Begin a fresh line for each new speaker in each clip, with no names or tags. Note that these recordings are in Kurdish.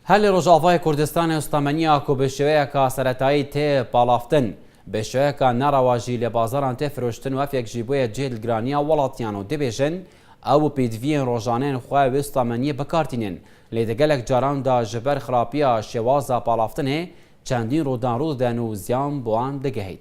Helê Rojavayê Kurdistanê stameniya ku bi şêweyeka seretayî tê palavtin, bi şêweyeka nerewa jî li bazaran tê firoştin û ev yek jî bûye cih li giraniya welatiyan û dibêjin, ew û pêdiviyên rojanên xwe wê stameniyê bikar tînin, lê di gelek caran de ji ber xirapiya şêwaza palavtinê çendîn rûdanrû didin û ziyan bi wan digihît.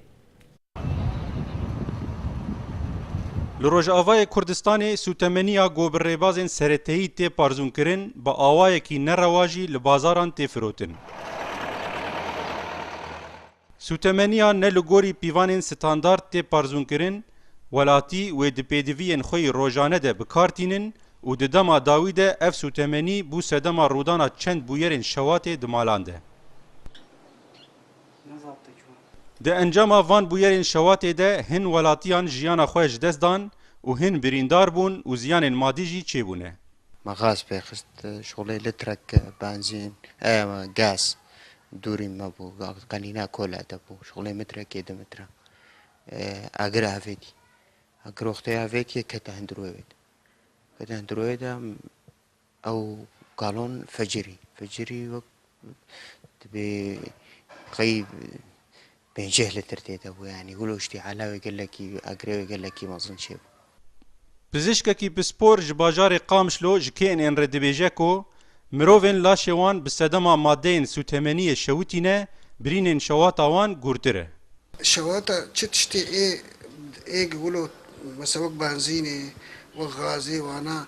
Li Rojavayê Kurdistanê sûtemeniya ku bi rêbazên sereteyî tê parzûnkirin bi awayekî nerewa jî li bazaran tê firotin. Sûtemeniya ne li gorî pîvanên standard tê parzûnkirin, welatî wê di pêdiviyên xwe yî rojane de bi kar tînin û di dema dawî de ev sûtemenî bû sedema rûdana çend bûyerên şewatê di malan de. Di encama van bûyerên şewatê de hin welatiyan jiyana xwe ji dest dan û hin birîndar bûn û ziyanên madî jî çêbûne. Me gaz pê xist, şolê litrek benzîn, gas, dûrî me bû, qenîna kole de bû, şolê mitrekê di mitre. Agir avêtî, agiroxteyê avêtî kete hundirûyê wê de. Kete hundirûyê de. Ew kalon fecirî fecirî wek dibê qey pênceh litr tê de bû yanî gûloştî elewê gelekî agrewê gelekî mezin çêbû. Pizîşkekî pispor ji bajarê Qamişlo ji KNN'ê re dibêje ku mirovên laşê wan bi sedema madeyên sûtemeniyê şewitî ne, birînên şewata wan gûrtir e. Şewata çi tiştê ê ê gûlo mesela wek benzînê, wek gazê wana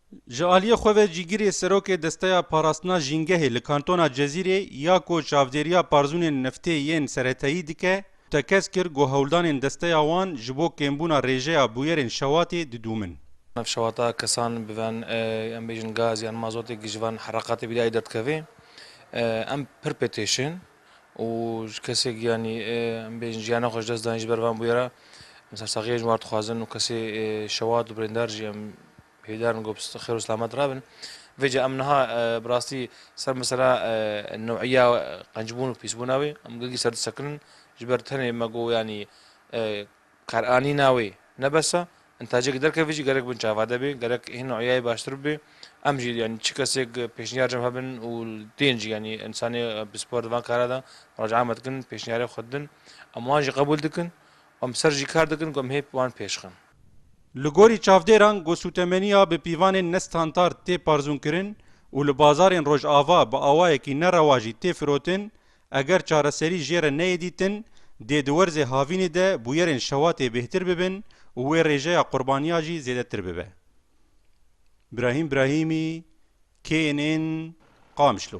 Ji aliyê xwe ve Cîgirê Serokê Desteya Parastina Jîngehê li Kantona Cezîrê ya ku çavdêriya parzûnên neftê yên seretayî dike, tekez kir ku hewldanên desteya wan ji bo kêmbûna rêjeya bûyerên şewatê didûmin. Nav şewata kesan bi van em bêjin gaz yan mazotê ku ji van hereqatê bîrî ay derdikeve em pir pê têşên. û ji kesek yanî em bêjin jiyana xwe ji dest dayîn ji ber van bûyera em sersaxiyê ji wan dixwazin û kesê şewat û birîndar jî em hêdar in ku bi xêr û selamet rabin. Vê ca em niha bi rastî ser mesela newîya qencbûn û pîsbûna wê em girgî ser disekinin ji ber tenê me got yanî Qeranîna wê ne bes e. In tacek derkevî jî gerek bin çavade bê, gerek hîn uyayê baştir bibê. Em jî yanî çi kesêk pêşniyar cem hebin û tên jî yanî însanê pispor di van kara de muracae me dikin, pêşniyarê xwe didin. Em wan jî qebûl dikin û em bi ser jî kar dikin ku em hê wan pêşxin. Li gorî çavdêran ku sûtemeniya bi pîvanên ne standard tê parzûnkirin û li bazarên Rojava bi awayekî nerewa jî tê firotin, Eger çareserî jê re neyê dîtin, dê di werzê havînê de bûyerên şewatê bêhtir bibin û wê rêjeya qurbaniya jî zêdetir bibe. Brahîm Brahîmî, KNN, Qamişlo.